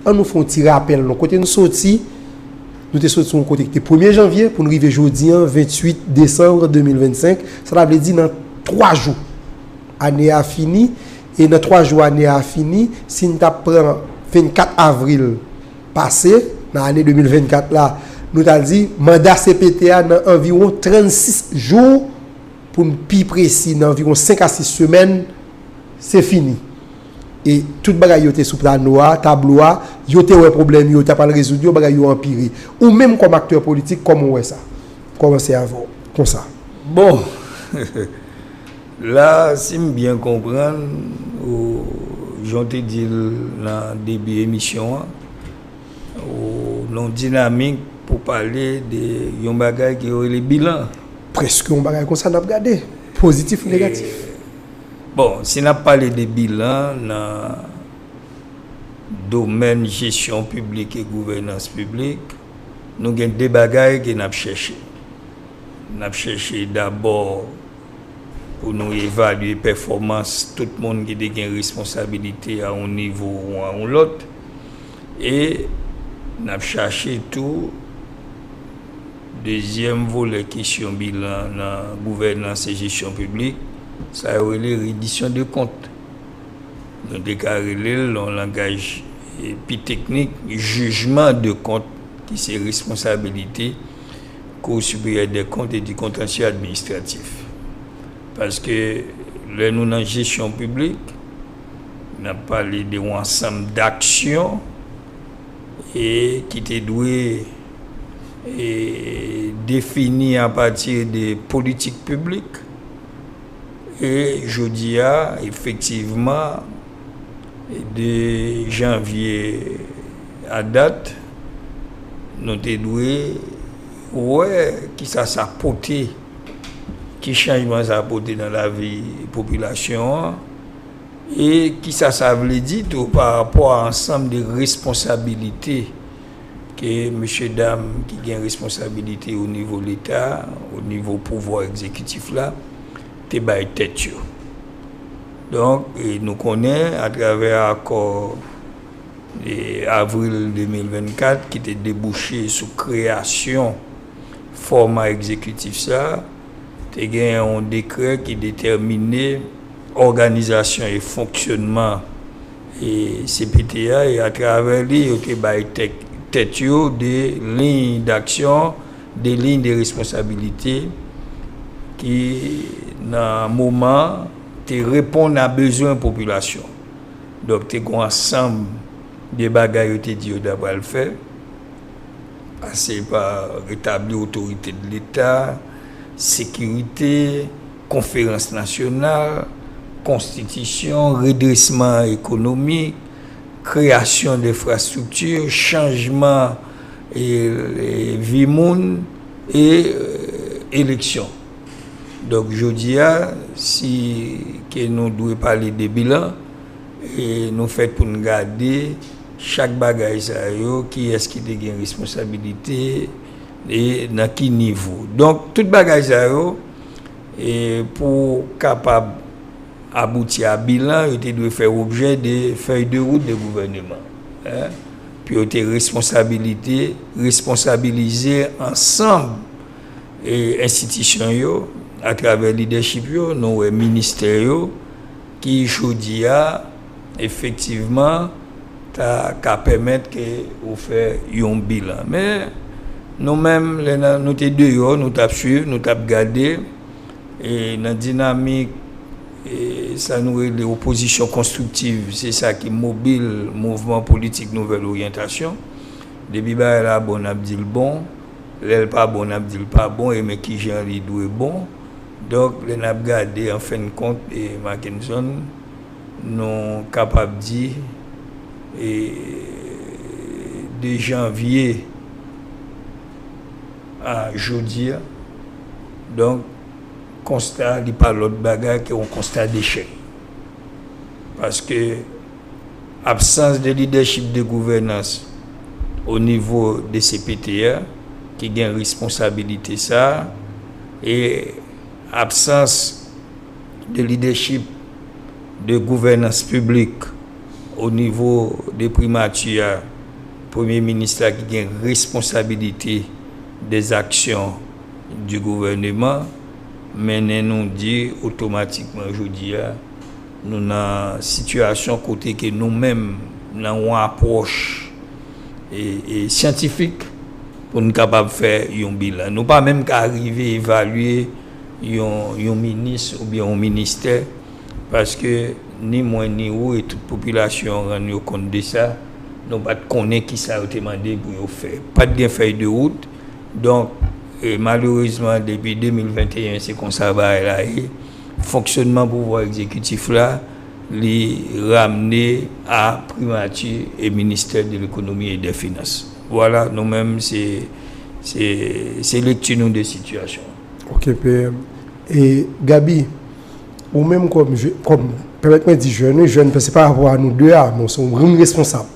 An nou fè yon ti rapèl non kote n soti, nou te soti yon kote ki te premye janvye pou n rive jodi an 28 desanm 2025, sa ta vle di nan 3 jou ane a fini e nan 3 jou ane a fini si n ta pran 24 avril pase nan ane 2024 la nou ta di manda cpt a nan anviwon 36 jou pou n pi presi nan anviwon 5 a 6 semèn se fini. e tout bagay yo te sou plano a, tablo a, yo te wè pwoblèm yo, yo ta pral rezoud yo, bagay yo anpire. Ou menm kòm aktè politik, kòman ou wè sa? M kòmanse avè w, konsa. Bon! La, si m byen konprann ou, jan w te di l nan debi emisyon an, ou nan yon dinamik pou pale de yon bagay ke yo rele bilan. Prèske yon bagay konsa n ap gade, pozitif ou negatif. Bon, si n ap pale de bilan nan domèn jesyon piblik e gouvènans piblik, nou gen de bagay ke n ap chèche. N ap chèche dabò pou nou evalye pèfòmans tout moun ki te gen responsabilite a yon nivo ou a yon lòt. E n ap chache tou dezyèm volè kesyon bilan nan gouvènans e jesyon piblik, sa yo rele redisyon de kont. Nou te ka rele l, nan yon langaj pi teknik, jijman de kont ki se responsabilite Kou Siperyè dè Kont e di Kontansye Administratif. Paske lè nou nan jesyon piblik. N ap pale de yon ansanm daksyon ki te dwe defini apati de politik piblik. E jodi a, efektivman, de janvye a dat, nou te dwe wè ki sa sa pote. Ki chanjman sa pote nan lavi popilasyon an? E kisa sa vle di tou pa rapò a ansanm de responsabilite ke mesye dam ki gen responsabilite o nivo leta, o nivo pouvwa egzekitif la te bay tèt yo? Donk, nou konnen atravè akò avril 2024 ki te debouche sou kreyasyon. fòma egzekitif sa a, te gen yon dekrè ki detèmine òganizasyon e fonksyònman cpt a e atravè li yo te bay tèt yo de liy daksyon, de liy de responsabilite ki nan moman te reponn a bezwen popilasyon. Donk te gen yon ansanm de bagay yo te di yo ta pral fè. pase pa retabli otorite de leta, sekirite, konferans nasyonal, konstitisyon, redresman ekonomik, kreyasyon denfrastrikti, chanjman vi moun e eleksyon. Donk jodi a, si ke nou dwe pale de bilan, nou fèt pou nou gade. Chak bagay sa yo, kiyès ki te gen responsabilite e nan ki nivo. Donk, tout bagay sa yo, pou kapab abouti a bilan, yo te dwe fè objè de fèy de wout de gouvèneman. Pou yo te responsabilite, responsabilize ansanm enstitisyon yo, atravè lidèchip yo, nou wè ministè yo, ki jodi a, efektivman ta ka pèmèt ke ou fè yon bilan. Men, nou menm, lè nan, nou te deyò, nou t ap swiv, nou t ap gade, e nan dinamik e sa nou rele opozisyon konstriktiv, se sa ki mobil mouvman politik nouvèl oryantasyon. Depi bagay la bon, n ap di l bon, lè l pa bon, n ap di l pa bon, e men ki jan li dwe bon. Donk, lè n ap gade, an fen kont, e Makenson, Nou kapab di 2 janvye a jodi a. Donk konsta a li pa lòt bagay ke yon konsta dechèk. Paske absans de lidèchip de gouvènans o nivo de cpt a ki gen responsabilite sa a e absans de lidèchip, de gouvènans piblik o nivo de primati a, Premye Minis la ki gen responsabilite des actions du gouvernement, mennen nou di otomatikman jodi a nou nan sitiyasyon kote ke nou menm nan yon apwòch syantifik pou n kapab fè yon bilan. Nou pa menm ka rive evalye. yon minis oubyen yon ministè, paske ni mwen ni ou e tout popilasyon an rann yo kont de sa, nou pa t konnen ki sa yo te mande pou yo fè. Pa t gen fèy de wout, donk malerezman depi 2021 se konsa bagay la ye, fonksyonman pouvwa egzekitif la li ramne a primati e ministè de lekonomi e dè finans. Vwala, nou menm se lekti nou de sitiyasyon an. Ok PM. E Gaby, ou menm kòm je, kòm, pèmèt mwen di jèn wi, jèn, se pa rapò a nou 2 a, men se yon grenn responsab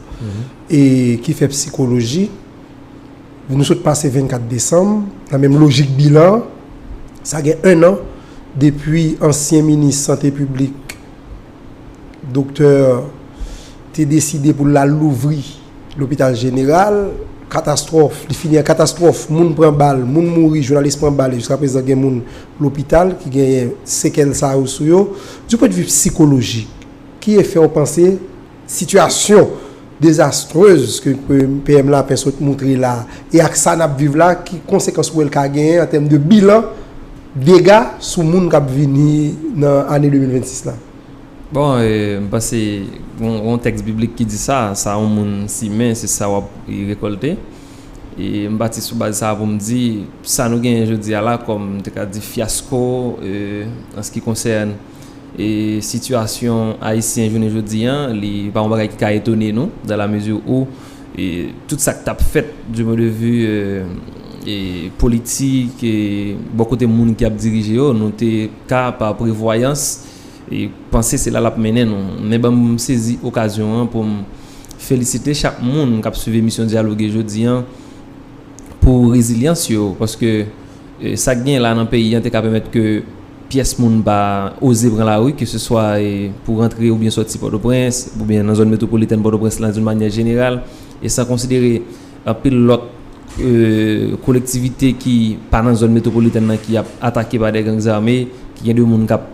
e ki fè psikoloji, nou sot pase 24 desanm, nan menm lojik bilan, sa gen 1 an depi ansyen minis sante piblik doktè te deside pou l al louvri. Lopital jeneral, katastwòf, li fini an katastwòf, moun pran bal, moun mouri, jounalis pran bal e jiska prezan gen moun lopital ki genyen sekèl sa yo sou yo. Du pwen de vi psikolojik, ki efè ou panse sitiyasyon dezastrez ke PM Lapin sot moutre la a e ak sa n ap viv la, ki konsekans ou wè l ka genyen an tèm de bilan dega sou moun k ap vini nan ane 2026 la? Bon, m panse gen yon tèks biblik ki di sa, sa yon moun simen, se sa wap rekòlte. E m pati sou baz sa pou m di, sa nou genyen jodi a la kòm m te ka di fyasko an se ki konsène sitiyasyon ayisyen jounen jodi a, li pa yon bagay ki ka etone nou dan la mezi ou tout sa k tap fèt di pwen de vi politik, bò kote moun ki ap dirije yo, nou te ka pa prevwayans. e panse se la lap mennen nou. Men banm sezi okazyon an pou m felisite chak moun kap swiv emisyon Dyaloge jodi an pou rezilyans yo paske sa k genyen la nan peyi an te ka pèmèt ke pyès moun pa oze pran lari ke se swa pou rantre oubyen sòti Pòtoprens oubyen nan zòn metwopolitèn Pòtoprens lan doun manyè jeneral e san konsidere Anpil lòt kolektivite ki pa nan zòn metwopolitèn nan ki ap atake pa de gang zame, ki gen de moun k ap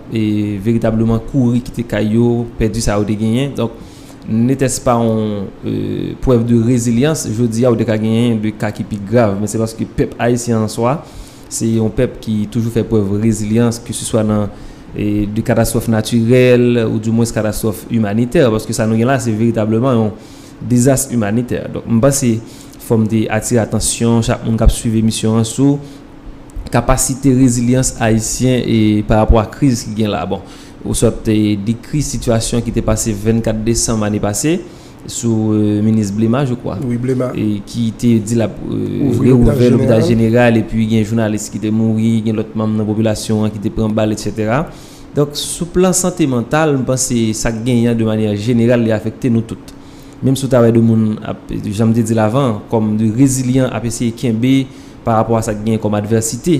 veritableman kouri kite kay yo, pèdi sa yo te genyen. Donk, netès pa yon prèv de rezilyans, jodi a ou te ka genyen de ka ki pi grav. Men se paske pèp ayisyen an swa, se yon pèp ki toujou fè prèv rezilyans, ke se swa nan de katastwòf natirèl ou di mwens katastwòf imanitè. Paske sa nou gen la se veritableman yon. Dezas imanitè. Donk m panse fò m te atire atansyon chak moun k ap suiv emisyon an sou kapasite rezilyans ayisyen e pa rapò a kriz ki gen la. Bon, ou sot dekri sitiyasyon ki te pase 24 desanm ane pase sou minis Blema je kwa. Wi Blema. Ki te di l ap rewouvè lopital jeneral epi gen jounalis ki te mouri, gen lòt manm nan popilasyon an ki te pran bal, etsetera. Donk, sou plan sante mantal, m panse sa k genyen an de manyè jeneral li afekte nou tout. Menm si w ta wè de moun ap, jan m te di l avan an, kòm de rezilyan ap eseye kenbe pa rapò a sa k genyen kòm advèsite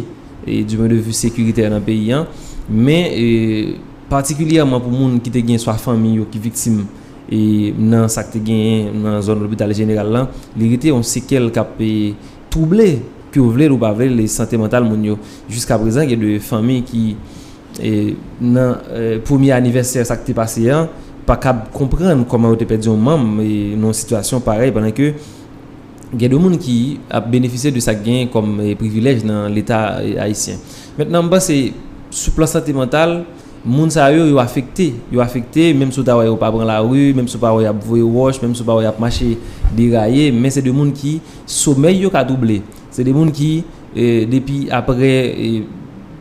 di pwen de vi sekiritè nan peyi an. Men, patikilyèman pou moun ki te gen swa fanmi yo ki viktim nan sa k te genyen nan zòn lopital jeneral lan, li rete yon sekèl k ap. twouble, ke w vle l ou pa vle l, e sante mantal moun yo. Jiska prezan gen de fanmi ki nan premye anivèsè sa k te pase an, pa kab konprann kòman yo te pèdi yon manm nan yon sitiyasyon parèy pandan ke gen de moun ki ap benefisye de sa k genyen kòm privilèj nan leta ayisyen. Mentnan m panse sou plan sante mantal, moun sa yo, yo afekte. Yo afekte menm si w ta wè yo pa pran lari, menm si w pa wè y ap voye wòch, menm si w pa wè y ap mache deraye, men se de moun ki. Somèy yo ka twouble. Se de moun ki depi apre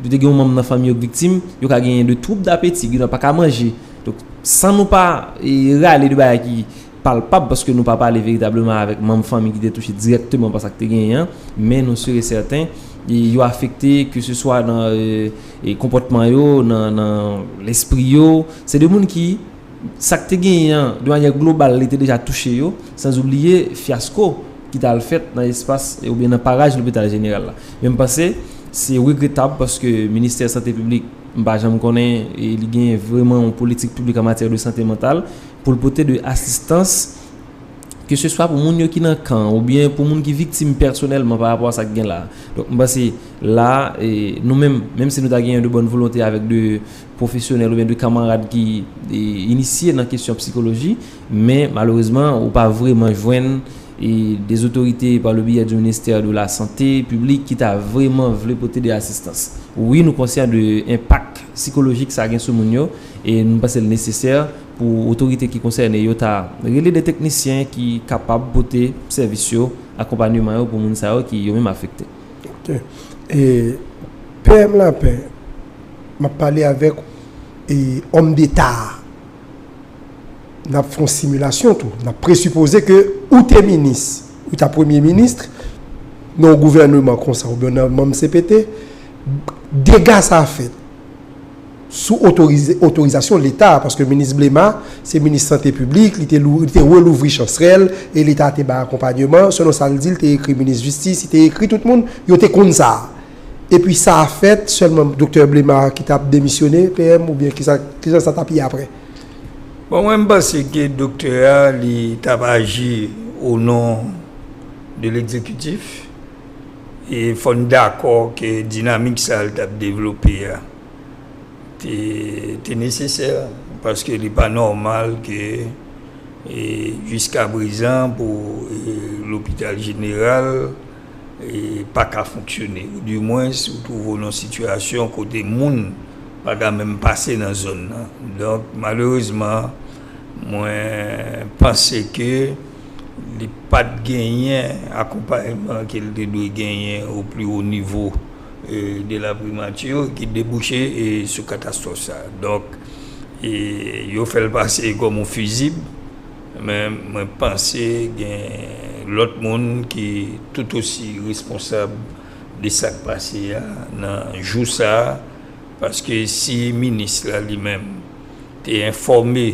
yo te gen yon manm nan fanmi yo k viktim, yo ka genyen de twoub dapeti, gen nan pa ka manje. Donk, san nou pa rale de bagay ki palpab paske nou pa pale veritableman avèk manm fanmi ki te touche dirèkteman pa sa k te genyen an, men nou si e sèten yo afekte ke se swa nan konpòtman yo, nan lespri yo. Se de moun ki. sa k te genyen an, de manyè global li te deja touche yo, sanzoubliye fyasko ki t al fèt nan espas oubyen nan paraj lopital jeneral la. Men m panse se regretab paske ministè sante piblik m pa janm konnen li genyen vreman yon politik piblik an matyè de sante mantal pou l pote de asistans ke se swa pou moun yo ki nan kan oubyen pou moun ki viktim pèsonèlman pa rapò a sa k gen la a. Donk m panse la a nou menm, menm si nou ta genyen de bòn volonte avèk de. pwofesyonèl oubyen de kanmarad ki inisye nan kesyon psikoloji, men malerezman ou pa vreman jwenn de zotorite pa le biyè di ministè de la sante piblik ki ta vreman vle pote de asistans. Wi nou konsyan de enpak sikolojik sa gen sou moun yo e nou panse l nesesè pou otorite ki konsène yo ta rele de teknisyen ki kapab pote sèvis yo, akonpanyeman yo pou moun sa yo ki yo menm afekte. Ok e PM lapin map pale avèk ou e òm deta a nap fè yon similasyon tou nap presipoze ke ou te minis ou ta premye ministre nan yon gouvèneman konsa oubyen nan manm CPT dega sa fèt. sou otorizasyon Leta, paske minis Blema se minis sante piblik, li te relouvri chansrèl e Leta te bay akonpanyeman, selon sa l di, li te ekri minis jistis, li te ekri tout moun, yo te konn sa. Epi sa a fèt, sèlman doktè Blema ki t ap demisyone, PM, oubyen ki sa, ki jan sa t ap ye aprè? Bon, mwen m panse ke doktè a, li t ap aji onon de legzekitif e fò n dakò ke dinamik sa l t ap devlope a, te nesesè, paske li pa nòmal ke jiska prezan pou lopital jeneral pa ka fonksyone. Ou di mwens ou twouve w nan sitiyasyon kote moun pa ka menm pase nan zòn nan. Donk malerezman mwen panse ke li pat genyen akonpayman ke li te dwe genyen o pli wo nivo. de la primature ki debouche sou katastwòf sa. Donk, yo fè l pase kòm yon fizib, men mwen panse gen lòt moun ki tout osi responsab de sa k pase a nan jou sa, paske si minis la li menm te enfòme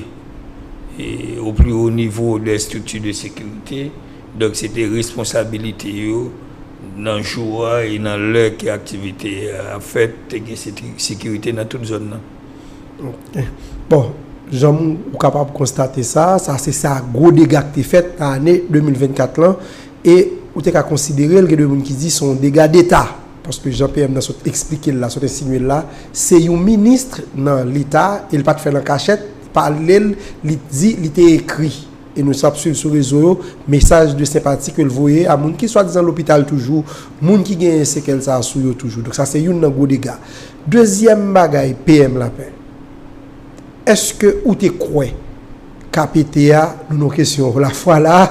au plus haut niveau des structures de sécurité, Donk se te responsabilite yo nan jou a e nan lè ke aktivite a ap fèt, te gen sekirite nan tout zòn nan. Ok. Bon, jan ou kapab konstate sa, sa se sa gwo dega ki te fèt nan ane 2024 lan e ou te ka konsidere l, gen de moun ki di se yon dega deta. Paske jan PM nan sot eksplike l la, sot ensinye l la, se yon ministre nan leta e li pa t fè l an kachèt, li pale l, li di, li te ekri. E nou sa ap swiv sou rezo yo mesaj de senpati ke l voye a moun ki swadizan lopital toujou, moun ki genyen sekèl sa a sou yo toujou. Donk sa se youn nan gwo dega. Dezyèm bagay PM Lapin, èske ou te kwè ka pete a, nou nan kesyon lafwa la a,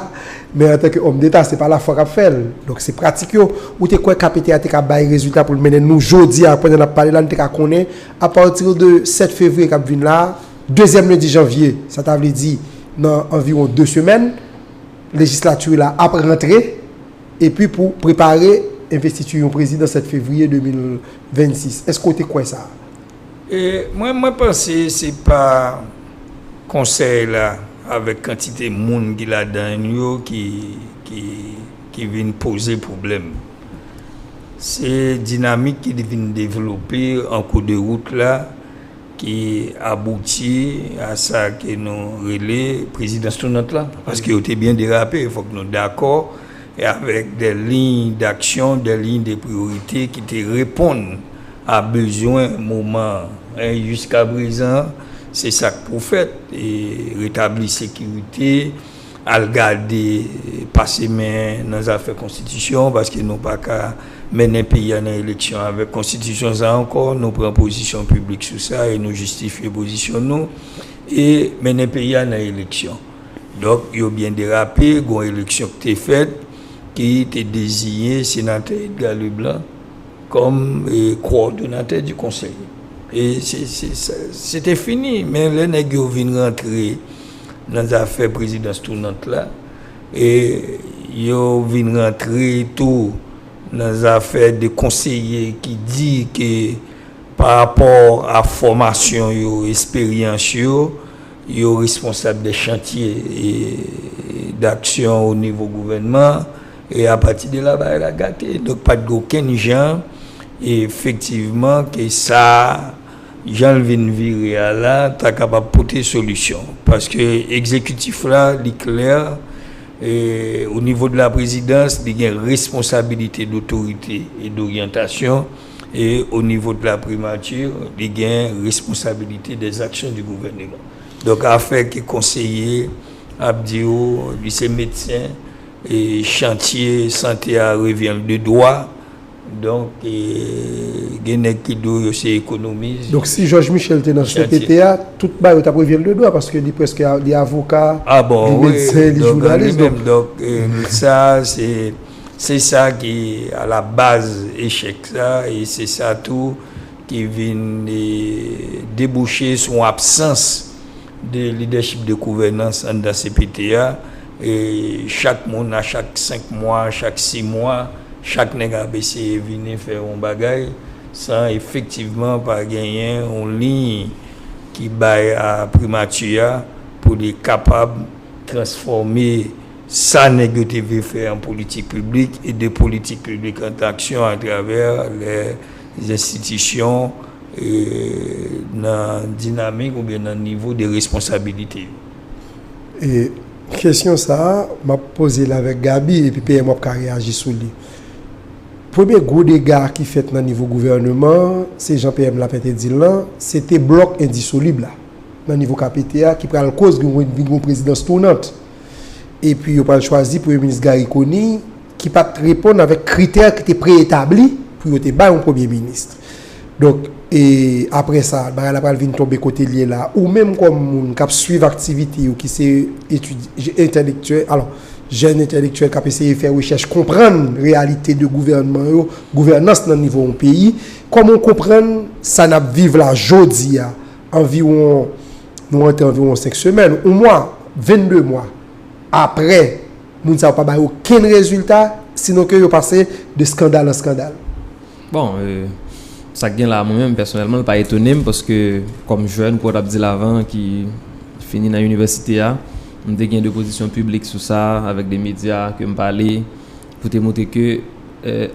men antanke òm deta se pa lafwa k ap fè l, donk se pratik yo, ou te kwè ka pete a te ka bay rezilta pou l mennen nou jodi a pandan n ap pale la nou te ka konnen apatire de 7 fevriye k ap vin la a Dezyèm lendi janvye, sa ta vle di nan anviwon 2 semèn, lejislati la ap rantre epi pou prepare envestiti yon prezidan 7 fevriye 2026. Èske w te kwè sa? Mwen, mwen panse se pa konsèy la avèk kantite moun ki ladan l yo ki, ki, ki vin poze pwoblèm. Se dinamik ki vin devlope an kou de wout la. ki abouti a sa ke nou rele prezidans tounant la, paske yo te byen derape, fòk nou dakò avèk dè liy daksyon, dè liy de priyorite ki te reponn a bezwen moman an. E jiskaprezan, se sa k pou fèt, retabli sekirite, Al gade, pase men nan zafè konstitisyon, paske nou pa ka mennen peyi a nan eleksyon avèk konstitisyon sa ankò. Nou pran pozisyon piblik sou sa e nou jistifye pozisyon nou. E mennen peyi a nan eleksyon. Donk, yo byen derape. Gon eleksyon ki te fèt ki te deziye Senatè Edgar Leblanc kòm kowòdonatè di konsèy. E se te fini. Men lè nèg yo vin rantre. nan zafè prezidans tounant la e yo vin rantre tou nan zafè de konseye ki di ke pa rapò a fòmasyon yo, esperyans yo, yo responsab de chantye daksyon o nivo gouvènman e a pati de la bagay la gate. Donk pa t gen okenn jan efektivman ke sa. Jan l vin vire a la ta kapab pote solisyon. Paske egzekitif la li klè, o nivo de la prezidans li gen responsabilite dotorite e doryantasyon e o nivo de la primati li gen responsabilite dè zaksyon di gouvèneman. Donk afè ke konseye ap di ou li se medsen e chantye sante a revyen l de dwa. Donk gen nèg ki di w yo se ekonomis. Donk si Jòj Michèl te nan cpt a, tout bagay yo t ap revye l de dwa paske li prèske li avoka, li medsen, li jounalis. Donk li menm, donk sa se se sa ki alabaz echèk sa e se sa tou ki vin debouche sou absans de lidèchip de gouvènans anndan cpt a. E chak moun a chak 5 mwa, chak 6 mwa, chak nèg ap eseye vini fè yon bagay san efektivman pa genyen yon liy ki bay a primati a pou li kapab transfòme sa nèg yo te vle fè an politik piblik e de politik piblik an aksyon atravè lèzenstitisyon e nan dinamik oubyen nan nivo de responsabilite yo. E kesyon sa a, m ap poze l avèk Gaby epi PM w ap ka reyaji sou li. Premye gwo dega ki fèt nan nivo gouvèneman an, se jan PM Lapin te di l lan, se te blòk endisolib la nan nivo KPT a ki pral koz vin gen yon prezidans tounant. Epi yo pral chwazi Premye Minis Garry Conille. ki pa t reponn avèk kritè ki te pre-etabli pou yo te bay yon premye minis. Donk, e aprè sa, bagay la pral vin tonbe kote l ye la. Ou menm kòm moun k ap suiv aktivite yo, ki se etidyan, entèlektyèl, alò, jèn entèlektyèl k ap eseye fè rechèch, konprann reyalite de gouvènman yo, gouvènans nan nivo yon peyi, kòman w konprann sa n ap viv la jodi a, anviwon, nou rantre anviwon senk semèn, yon mwa, 22 mwa aprè? Moun sa yo pa bay okenn rezilta, sinon ke yo pase de skandal an skandal. Bon, sa k gen la a mwen menm pèsonèlman, l pa etone m paske kòm jèn, kou w t ap di l avan, ki fini nan inivèsite a, m te gen de pozisyon piblik sou sa avèk de medya ke m pale pou te montre ke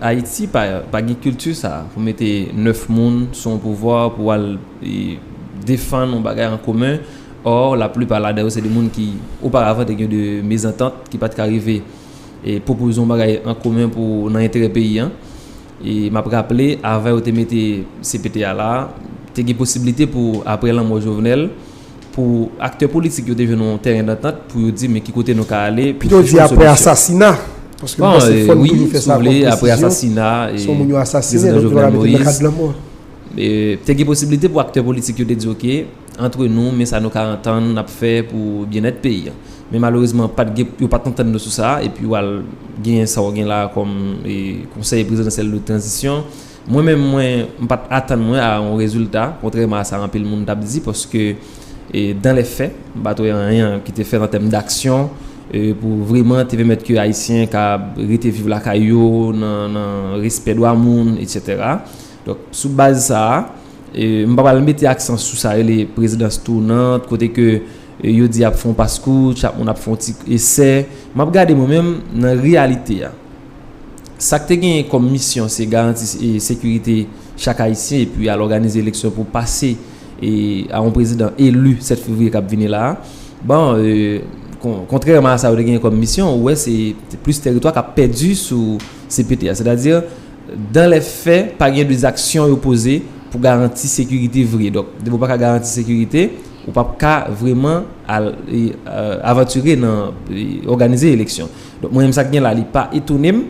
Ayiti pa gen kilti sa a pou mete 9 moun sou yon pouvwa pou al defann yon bagay an komen Or, laplipa ladan yo se de moun ki, oparavan, te gen de mezantant ki pa t ka rive pwopoze yon bagay an komen pou nan enterè peyi an. E m ap raple, avan yo te mete CPT a la, te gen posiblite pou, apre lanmò Jovenel, pou aktè politik yo te jwenn yon tèren dantant pou yo di men ki kote nou ka ale pou chèche yon solisyon. Pito di apre asasina, paske m panse fò n toujou fè sa kòm presizyon, se yon moun yo asasine, donk yo pa ka mete l nan kad lanmò. Te gen posiblite pou aktè politik yo te di ok, antre nou men sa nou ka antann nap fè pou byennèt peyi an men malerezman pat gen yo pat antann nou sou sa epi wal genyen sa w gen la kòm konsèy prezidansyèl de tranzisyon mwen menm mwen m pat atann mwen a yon rezilta kontrèman a sa anpil moun tap di paske dan lè fè m pat wè anyen ki te fèt an tèm daksyon pou vreman te pèmèt ke ayisyen ka rete viv lakay yo nan respè dwa moun etsetera donk sou baz sa a. M pa pral mete aksan sou sa rele prezidans tounant, kote ke yo di y ap fè yon paskouch, chak moun ap fè yon ti esè. M ap gade mwen menm nan reyalite a. Sa k te genyen kòm misyon se garanti sekirite chak Ayisyen epi al òganize eleksyon pou pase a yon prezidan eli 7 fevriye k ap vini la a. Bon, kontrèman a sa yo te genyen kòm misyon, ou wè se plis tèritwa k ap pèdi sou CPT a. Sètadi. Dan lè fè pa gen de zaksyon yo poze pou garanti sekirite vre. Donk, depi ou pa ka garanti sekirite, ou pa p ka vreman al avantire nan òganize eleksyon. Donk, mwen menm sa k gen la li pa etone m.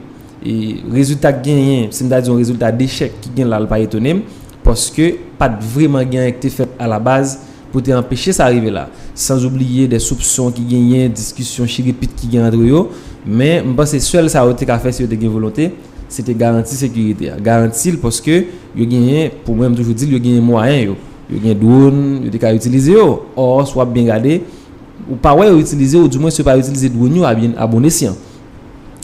Rezilta k genyen, si m ta di yon rezilta dechèk ki gen la li pa etone m. Paske pa t vreman gen anyen ki te fèt alabaz pou te anpeche sa rive la. Sanzoubliye de soupson ki genyen, diskisyon chirepit ki gen antre yo. Men, m panse sèl sa yo te ka fè si yo te gen volonte. Se te garanti sekirite a. Garanti l paske yo genyen, pou mwen m toujou di l, yo genyen mwayen yo. Yo gen dwon, yo te ka itilize yo. Ò, si w ap byen gade, ou pa wè yo itilize ou di mwens yo pa itilize dwon yo a bon esyan.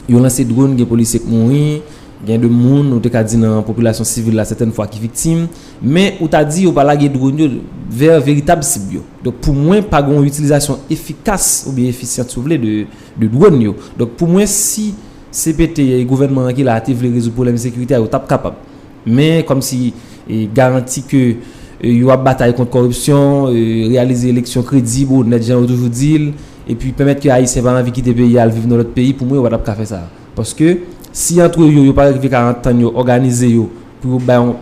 Yo lanse dwon, gen polisye k mouri, gen de moun ou te ka di nan popilasyon sivil la sètèn fwa ki viktim. Men, ou ta di yo pa lage dwon yo vè veritab sib yo. Donk, pou mwen, pa gen yon itilizasyon efikas oubyen efisyan si w vle de dwon yo. Donk, pou mwen, si. CPT e gouvènman an ki la a te vle rezoud pwoblèm ensekirite a, yo t ap kapab. Men, kòmsi garanti ke yo ap batay kont kòripsyon, reyalize eleksyon kredib, onèt, jan yo toujou di l, epi pèmèt ke Ayisyen pa anvi kite peyi a al viv nan lòt peyi, pou mwen yo pa t ap ka fè sa. Paske, si antre yo, yo pa rive ka antann yo, òganize yo pou yo bay yon,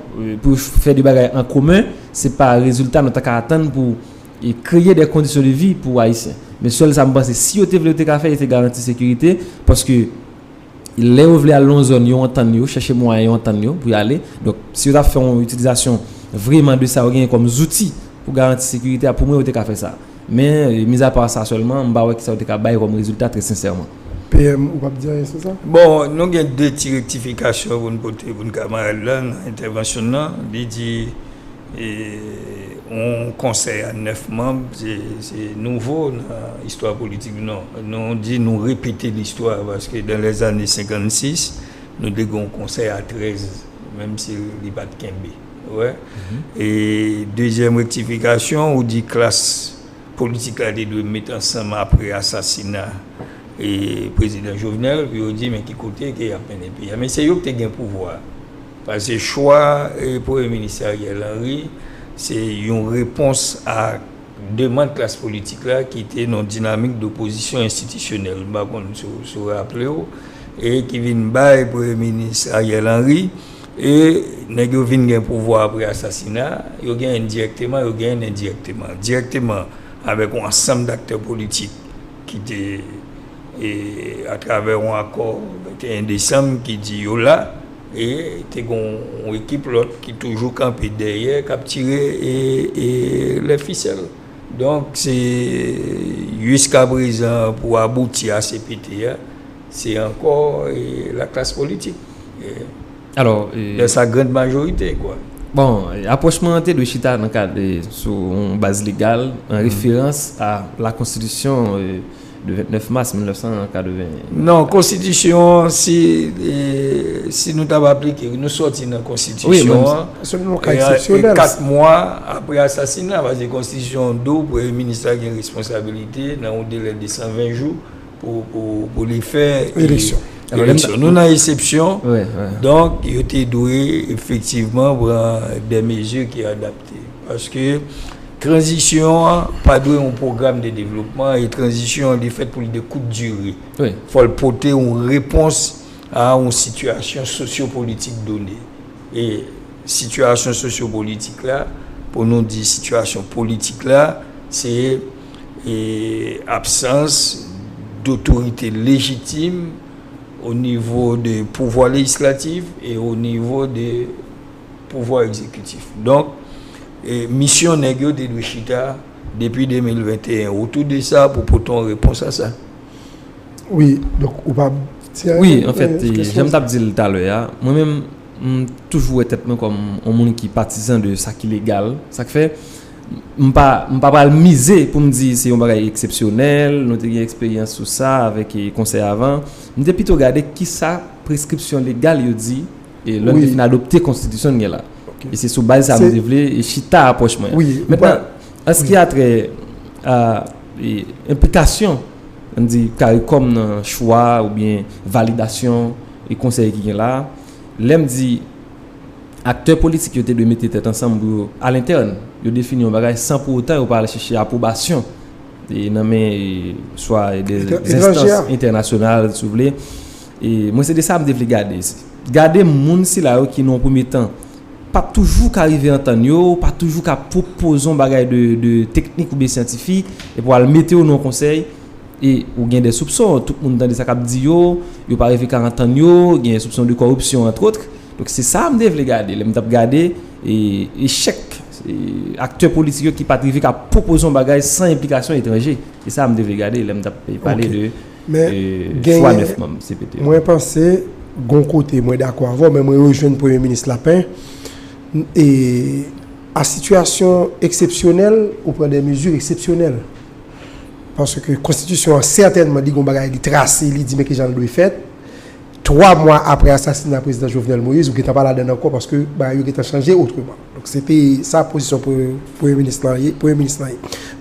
pou yo fè de bagay an komen, se pa rezilta nou ta ka atann pou. E kreye de kondisyon de vi pou Ayisyen. Men sèl sa m panse, si yo te vle yo te ka fè, yo te garanti sekirite, paske lè yo vle al nan yon zòn, yo antann yo, chèche mwayen yo antann yo pou y ale. Donk, si yo ta fè yon itilizasyon vreman de sa yo genyen kòm zouti pou garanti sekirite a, pou mwen yo te ka fè sa. Men, mizapa sa sèlman, m pa wè kisa yo te ka bay kòm rezilta trè sensèman. PM, ou p ap di anyen sou sa? Bon, nou gen de ti rektifikasyon pou n pote pou n kamarad la nan entèvansyon n nan. Li di Yon konsèy a 9 manb se nouvo nan istwa politik nou. Nou di nou repete listwa paske dan lè zane 56 nou te gen yon konsèy a 13 menm si li pat kenbe. E dezyèm rektifikasyon ou di klas politik la te dwe met ansanm apre asasina prezidan Jovenel pou yo di men ki kote ke yap mennen peyi a. Men se yo ki te gen pouvwa. Pase chwa Premye Minis Ariel Henry se yon repons a demand klas politik la ki te nan dinamik dopozisyon enstitisyonèl, m pa konn si w raple w, e ki vin bay Premye Minis Ariel Henry e nèg yo vin gen pouvwa apre asasina a, yo genyen dirèkteman, yo genyen endirèkteman. Dirèkteman avèk yon ansanm daktè politik ki te atravè yon akò 21 desanm ki di yo la E te gen yon ekip lòt ki toujou kanpe dèyè k ap tire lè fisèl. Donk se jiskaprezan pou abouti a cpt a, se ankò laklas politik. Alò. Lè sa grand majorite kwa. Bon, apwòch mwen an te dwe chita nan kad sou yon baz legal an referans a lakonstitisyon. De 29 mas 1981. Non, konstitisyon an, si nou ta va aplike, nou soti nan konstitisyon an, e 4 mwa apre asasina, pase konstitisyon an di w premye minis la gen responsabilite nan yon delè de 120 jou pou li fè eleksyon. Nou nan esepsyon, donk yo te dwe efektivman pran de mezi ki adapte. Paske tranzisyon an pa dwe yon pwogram de devlopman e tranzisyon an li fèt pou li de kout dire. Fò l pote yon repons a yon sitiyasyon sosyopolitik done. E sitiyasyon sosyopolitik la, pou nou di sitiyasyon politik la, se absans dotorite lejitim onivo de pouvwa lejislatif e onivo de pouvwa egzekitif. Donk, misyon nèg yo te dwe chita depi 2021. Ou tou de sa pou pote yon repons a sa? Wi, donk ou pa... Wi, an fèt, jan m t ap di l talè a, mwen menm, m toujou wè tèt mwen kòm yon moun ki patizan de sa ki legal. Sa k fè, m pa pral mize pou m di se yon bagay eksepsyonèl, nou te gen eksperyans sou sa avèk konsèy avan. M te pito gade ki sa preskripsyon legal yo di. E lè n te fin adopte konstitisyon n gen la. E se sou baz sa mwen te vle chita apwòch mwen. Mètnan, an s ki a trè a enplikasyon an di karikom nan chwa oubyen validasyon e konsèy ki gen la, lè m di aktè politik yo te dwe mete tèt ansanm pou yo alentèn, yo defini yon bagay san pou otan yo pa al chèche apwobasyon nan men swa de enstans entènasyonal si w vle. E mwen se de sa m te vle gade. Gade moun sila yo ki nan yon premye tan pa toujou ka rive antann yo, pa toujou ka pwopoze yon bagay de teknik oubyen syantifik, epi w al mete yo nan yon konsèy, e ou gen de soupson, tout moun tande sa k ap di yo, yo pa rive ka antann yo, gen soupson de kòripsyon antwòtr. Donk se sa m te vle gade lè m t ap gade echèk aktè politik yo ki pa t rive ka pwopoze yon bagay san enplikasyon etranje. Se sa m te vle gade lè m t ap pale de. Men genyen, mwen panse gon kote mwen dakò avè w men mwen rejwenn premye minis Lapin e a sitiyasyon eksepsyonèl ou pran de mezi eksepsyonèl paske konstitisyon an sètènman li gon bagay li trase li di men kijan l dwe fèt 3 mwa aprè asasina prezidan Jovenel Moïse ou gentan pa ladann ankò paske bagay yo gentan chanje otreman donk se te sa pozisyon premye minis lan ye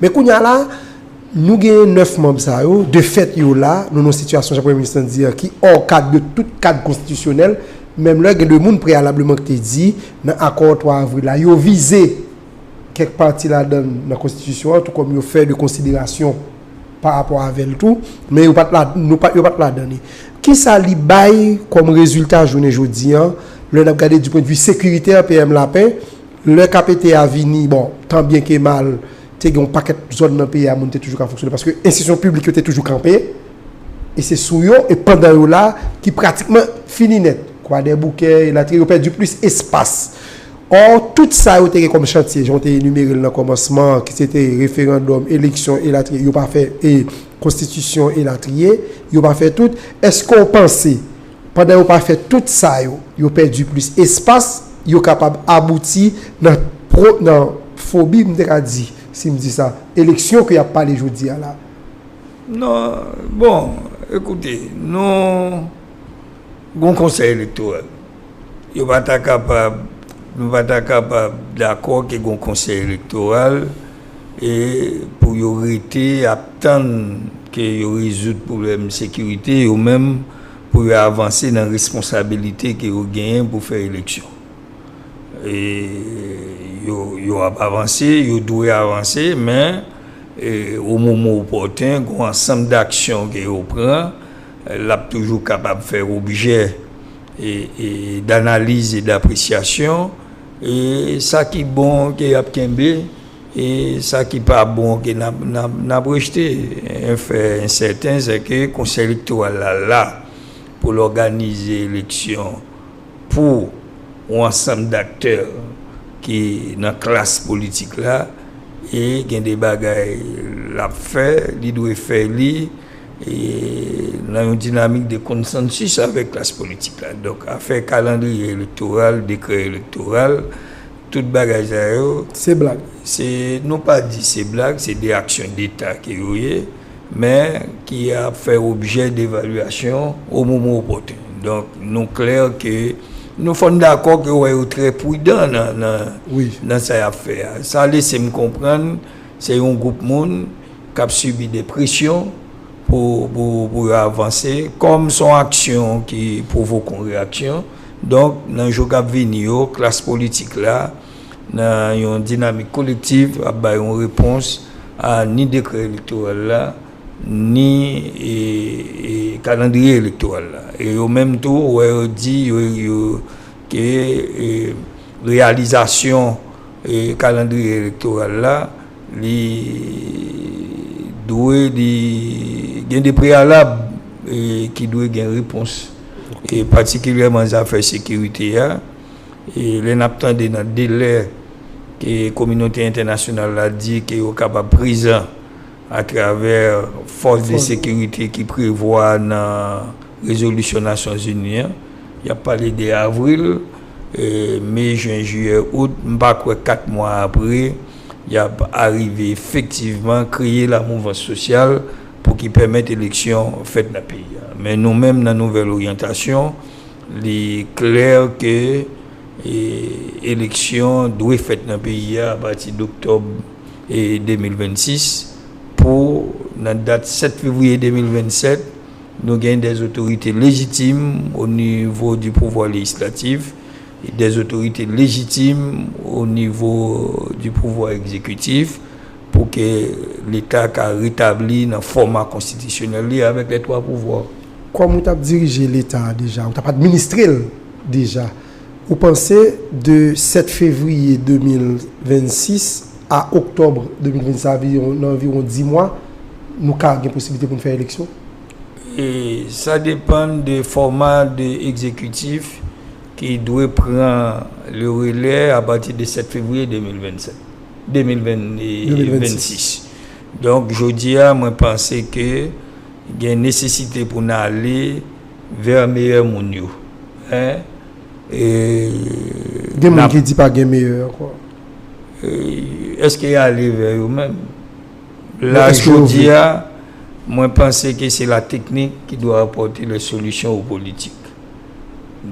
men kounya la Nou genyen 9 manb sa yo, de fèt yo la, nou nan yon sitiyasyon jan premye minis lan di an ki ò kad de tout kad konstitisyonèl, menm lè gen 2 moun preyalableman ki te di nan akò 3 avril la yo vize kèk pati ladan nan konstitisyon an tou kòm yo fè de konsiderasyon pa rapò avè l tou, men yo pa t la, nou pa, yo pa t ladan li. Kisa li bay kòm rezilta jounen jodi an lè n ap gade di pwendvi sekiritè PM Lapin lè KPT a vini, bon, tan byen ke mal, te gen yon pakèt zòn nan peyi a moun te toujou ka fonksyone paske enstitisyon piblik yo te toujou kanpe e se sou yo e pandan yo la ki pratikman fini nèt kwadèboukè elatriye yo pèdi plis espas ò tout sa yo te gen kòm chantye jan w te enimere l nan kòmansman an ki se te referandòm eleksyon elatriye yo pa fè e konstitisyon elatriye yo pa fè tout èske w panse Pandan yo pa fè tout sa yo, yo pèdi plis espas, yo kapab abouti nan pro, nan fobi, m te ka di, si m di sa, eleksyon ke y ap pale jodi a la. Non, bon, ekoute, nou gon konsèy elektoral. Yo pa ta kapab, nou pa ta kapab dakò ke gon konsèy elektoral e pou yo rete ap tann ke yo rezoud pwoblèm sekirite yo menm. pou yo avanse nan responsabilite ke yo genyen pou fè eleksyon. E yo ap avanse, yo dwe avanse, men o moman opòten, gon ansanm daksyon ke yo pran, l ap toujou kapab fè objè danaliz e dapresyasyon. E sa ki bon ke y ap kenbe. E sa ki pa bon ok nap rejte. En fè en sèten sè ke Konsèy Elektoral la la pou l òganize eleksyon pou yon ansanm daktè ki nan klas politik la e gen de bagay lap fè, li dwe fè li nan yon dinamik de konsansis avèk klas politik la. Donk afè kalandriye elektoral, dekrè elektoral. Tout bagay sa yo. Se blag. Se nou pa di se blag, se de aksyon deta ke yo ye, men ki ap fè objè de evalyasyon o moman opòtun. Donk nou klè ke nou fòn dakò ke wè yo trè prudan nan sa y ap fè a. Sa lese m konprann se yon gwoup moun. k ap sibi de presyon pou yo avanse, kòm son aksyon ki pwovoke yon reyaksyon, donk nan jou k ap vini yo klas politik la nan yon dinamik kolektiv ap bay yon repons a ni dekrè elektoral la ni kalandriye elektoral la e yo menm tou wè yo di yo ke reyalizasyon kalandriye elektoral la. Li dwe li gen de preyalab ki dwe gen repons. E patikilyèman zafè sekirite a. E lè n ap tande nan delè ke kominote entènasyonal la di ke yo kapab prezan atravè fòs de sekirite ki prevwa nan rezolisyon Nasyonzini an. Y ap pale de avril, me, jen, jiyè, out. M pa kwè 4 mwa apre. y ap arive efektivman kreye lamouvans sosyal pou ki pèmèt eleksyon fèt nan peyi a. Men nou menm nan Nouvèl Oryantasyon, li klè ke eleksyon dwe fèt nan peyi a apati doktòb 2026 pou nan dat 7 fevriye 2027, nou gen dè otorite lejitim onivo di pouvwa lejislatif. des autorités légitimes au niveau du pouvoir exécutif pou ke Leta ka retabli nan fòma konstitisyonèl li avèk les trois pouvoirs. Kòm ou t ap dirije Leta a deja, ou t ap administre l deja, ou panse de 7 fevriye 2026 a oktòb 2026 sa vle di nan anviwon 10 mwa nou ka gen posiblite pou n fè eleksyon? E sa depan de fòma de ekzekitif ki dwe pran le relè a pati de 7 fevriye 2027, 2026. Donk jodi a mwen panse ke gen nesesite pou n ale vè meyè moun yo. Gen moun ki di pa gen meyè ankò. Eske y ale vè yo menm? La jodia, mwen panse ke se la teknik ki dwe apòte lè solisyon o politik.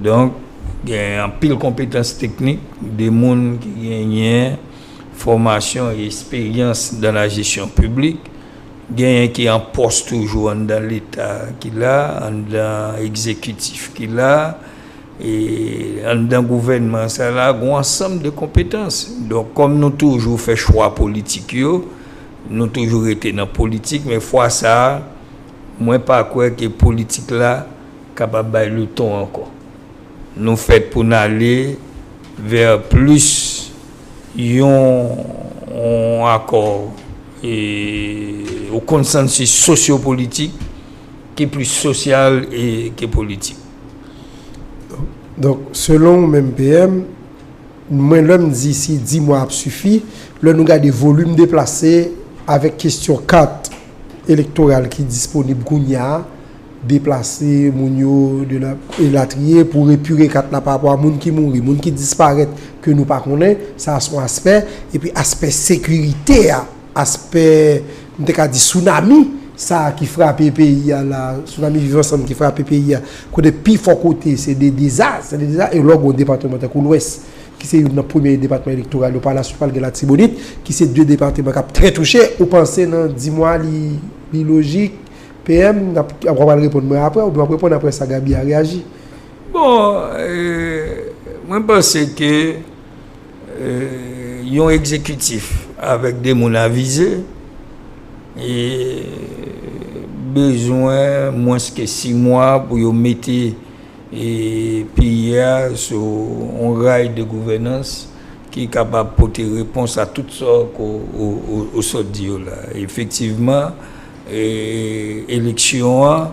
Donk, gen anpil konpetans teknik de moun ki genyen fòmasyon e esperyans dan la jesyon piblik, genyen ki an pòs toujou anndan leta ki la, anndan ekzekitif ki la, E anndan gouvènman sa la gon ansanm de konpetans. Donk kòm nou toujou fè chwa politik yo, nou toujou rete nan politik men fwa sa mwen pa kwè ke politik la kapab bay le ton ankò. Nou fèt pou n ale vè plis yon akò e yon konsansis sosyopolitik ki plis sosyal ke politik. Donk, selon ou menm PM, mwen lè m di si 10 mwa ap sifi, lè nou gade volim deplase avèk kesyon kat elektoral ki disponib kounya, deplase moun yo elatriye pou repire kat la pa apwa moun ki mouri, moun ki disparèt ke nou pa konnen, sa son aspè, epi aspè sekirite a. Aspè, m te ka di sounami sa a ki frape peyi a la, sounami viv ansanm ki frape peyi a, kote pi fò kote se de deza, se de deza, e lè w gen yon depatman tankou Lwès, ki se youn nan premye depatman elektoral yo, pa la suit pral gen Latibonit, ki se de depatman k ap trè touche, ou panse nan di mwa li lojik, PM, n ap, w apral reponn mwen apre, oubyen w ap reponn apre sa Gaby a reyaji. Bon, mwen panse ke. Yon egzekitif avèk 2 moun avize bezwen mwens ke 6 mwa pou yo mete peyi a sou yon ray de gouvènans ki kapab pote repons a tout sa ou sot di yo la. Efektivman, eleksyon an.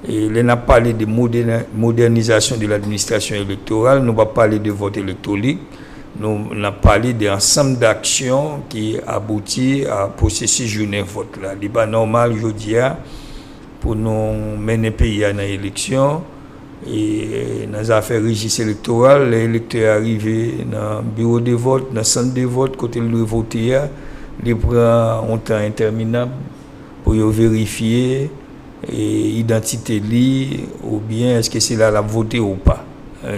Lè n ap pale de modènizasyon de l'administration électorale, nou pa pale de vòt elektwolik, nou n ap pale de ansanm d'aksyon ki abouti a pwosesis jounen vòt la. Li pa nòmal jodi a pou nou mennen peyi a nan eleksyon, nan zafè rejis elektoral, lè elektè a rive nan biwo de vòt, nan sant de vòt kote l dwe vote a, li pran yon tan entèminab pou yo verifye. idantite li oubyen eske se la lap vote ou pa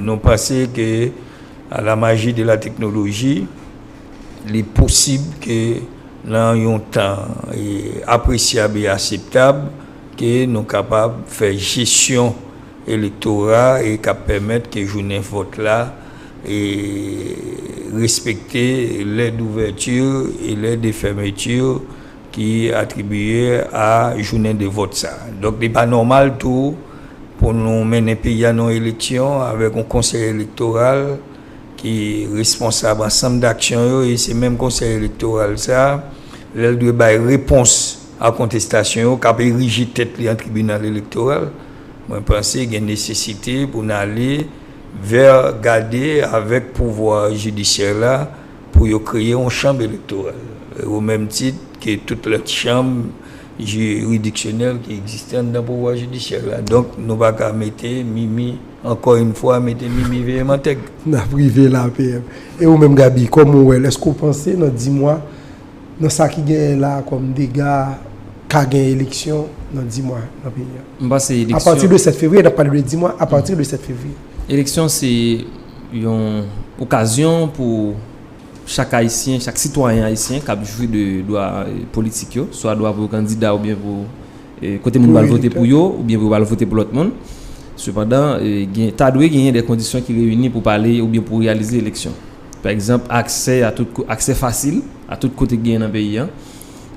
nou panse ke a la maji de la teknoloji li posib ke nan yon tan apresyab e aseptab ke nou kapab fè jesyon elektora e kap pèmèt ke jounen vòt la respekte lè douvèti e lè de fèmeti Ki atribiye a jounen de vòt sa. Donk li pa nòmal tou pou nou mennen peyi a nan yon eleksyon avèk yon konsèy elektoral ki responsab ansanm daksyon yo e se menm konsèy elektoral sa lè l dwe bay repons a kontestasyon yo k ap erije tèt li an tribinal elektoral. Mwen panse gen nesesite pou n ale vè gade avèk pouvwa jidisyè la. Pou yo kreye yon chanm elektoral o menm tit ke tout lòt chanm jiridiksyonèl ki egziste anndan pouvwa jidisyè la. Donk, nou pa ka mete Mimi, ankò yn fwa, mete Mimi veye mantèg. N ap rive la, PM. E ou menm, Gaby, kòman ou wè l? Èske ou panse nan di mwa, nan sa ki genyen la a kòm dega, ka gen eleksyon nan di mwa nan peyi a? M panse eleksyon. Apati de 7 fevriye, n ap pale de di mwa, apati de 7 fevriye. Eleksyon se. yon okazyon pou chak ayisyen, chak sitwayen ayisyen k ap jwi de dwa politik yo, swa dwa pou yo kandida oubyen pou kote moun pral vote pou yo, oubyen pou yo pral vote pou lòt moun. Sepandan, ta dwe genyen de kondisyon ki reyini pou pale oubyen pou reyalize eleksyon. Pa egzanp, aksè fasil a tout kote ki genyen nan peyi an.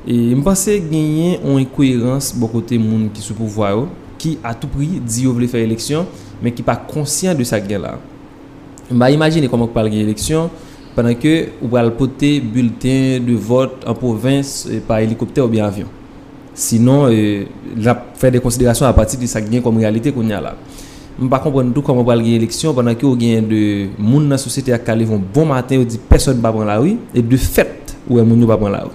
M panse genyen yon enkoyerans bò kote moun ki sou pouvwa yo, ki a tou pri di yo vle fè eleksyon, men ki pa konsyan de sa k gen la. M pa imajine kòman k pral gen eleksyon pandan ke ou pral pote bilten de vòt an pwovens pa elikoptè oubyen avyon. Sinon, n ap fè de konsiderasyon apati de sa k gen kòm reyalite kounya la. M pa konprann tou kòman pral gen eleksyon pandan ke ou genyen de moun nan sosyete ak ka leve yon bon maten yo di pèsòn pa pran lari e de fèt ou wè moun yo pa pran lari.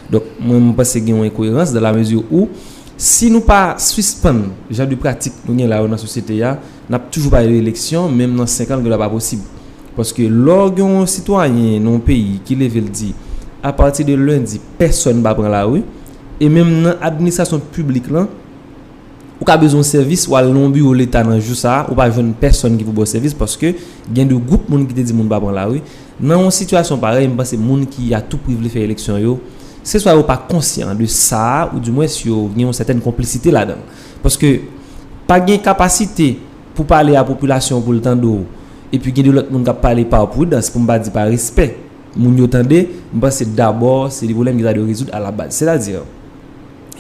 Donk mwen m panse gen yon enkoyerans dan la mezi ou si nou pa sispann jan de pratik nou gen la yo nan sosyete a n ap toujou pale de eleksyon menm nan 5 an l gen lè pa posib paske lò w gen yon sitwayen nan yon peyi ki leve l di a pati de lendi pèsòn pa pran lari e menm nan administrasyon piblik lan Ou ka bezwen yon sèvis, w al nan yon biwo leta nan jou sa a, ou pa jwenn pèsòn ki pou ba w sèvis paske gen de gwoup moun ki te di moun pa pran lari. Nan yon sitiyasyon parèy, m panse moun ki atoupri vle fè eleksyon yo, se swa yo pa konsyan de sa a ou dimwens yo gen yon sètèn konplisite ladan l. Paske, pa gen kapasite pou pale a popilasyon pou l tande w epi gen de lòt moun k ap pale pa pridans pou m pa di pa respè moun yo tande, m panse dabò se de pwoblèm ki ta dwe rezoud alabaz. Sètadi,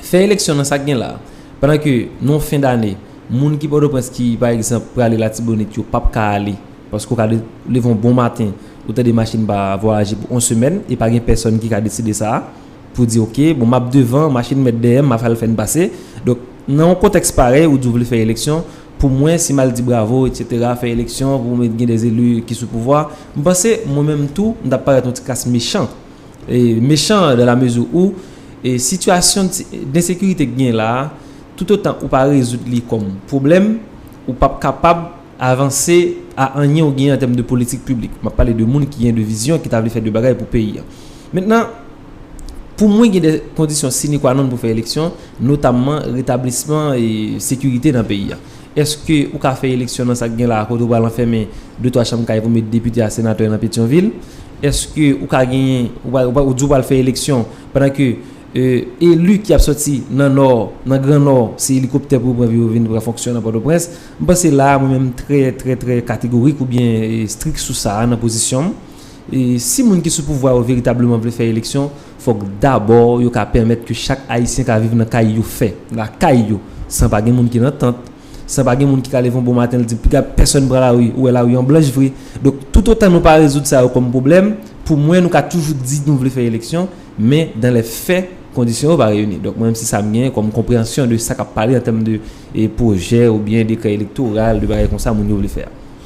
Fè eleksyon nan sak gen la. Pandan ke nan fen dane, moun ki Pòtoprens ki pa egzanp prale Latibonit yo pap ka ale paske ou ka leve yon bon maten ou tande machin pa vwayaje pou yon semèn e pa gen pèsòn ki ka deside sa pou di ok bon map devan machin mèt dèyè m map al fè n pase donk nan yon kontèks parèy ou di w vle fè eleksyon pou mwen si m al di bravo etc fè eleksyon pou mwen gen de eli ki sou pouvwa m panse mwen menm tou m tap parèt yon ti kras mechan. mechan dan la mezi ou sitiyasyon densekirite ki gen la a toutotan ou pa rezoud li kòm pwoblèm ou pap kapab avanse a anyen ou gen an tèm de politik piblik map pale de moun ki gen de vizyon ki ta vle fè de bagay pou peyi an mentnan pou mwen gen de kondisyon sine kwa non pou fè eleksyon notamman retablisman sekirite nan peyi an. Eske ou ka fè eleksyon nan sak gen la kote ou pral anfèmen 2 3 chanm kay pou met depite a senatè nan Petion vil? Eske ou ka genyen ou di ou pral fè eleksyon pandan ke elu ki ap soti nan nò nan gran nò se elikoptè pou yo pran pou yo vin pran fonksyon nan Pòtoprens? M panse la a mwen menm trè trè trè kategorik ou byen strik sou sa a nan pozisyon m. Si moun ki sou pouvwa yo veritableman vle fè eleksyon. Fòk dabò yo ka pèmèt ke chak Ayisyen ka viv nan kay yo fè, lakay yo, san pa gen moun ki nan tant, san pa gen moun ki ka leve yon bon maten li di piga pèsòn pran lari, ou wè lari an blanch vre. Donk, toutotan nou pa rezoud sa yo kòm pwoblèm, pou mwen nou ka toujou di nou vle fè eleksyon, men dan lè fè, kondisyon yo pa reyini. Donk, mwen menm se sa m gen kòm konpreyansyon de sa k ap pale an tèm de pwojè oubyen dekrè elektoral, de bagay konsa moun yo vle fè a.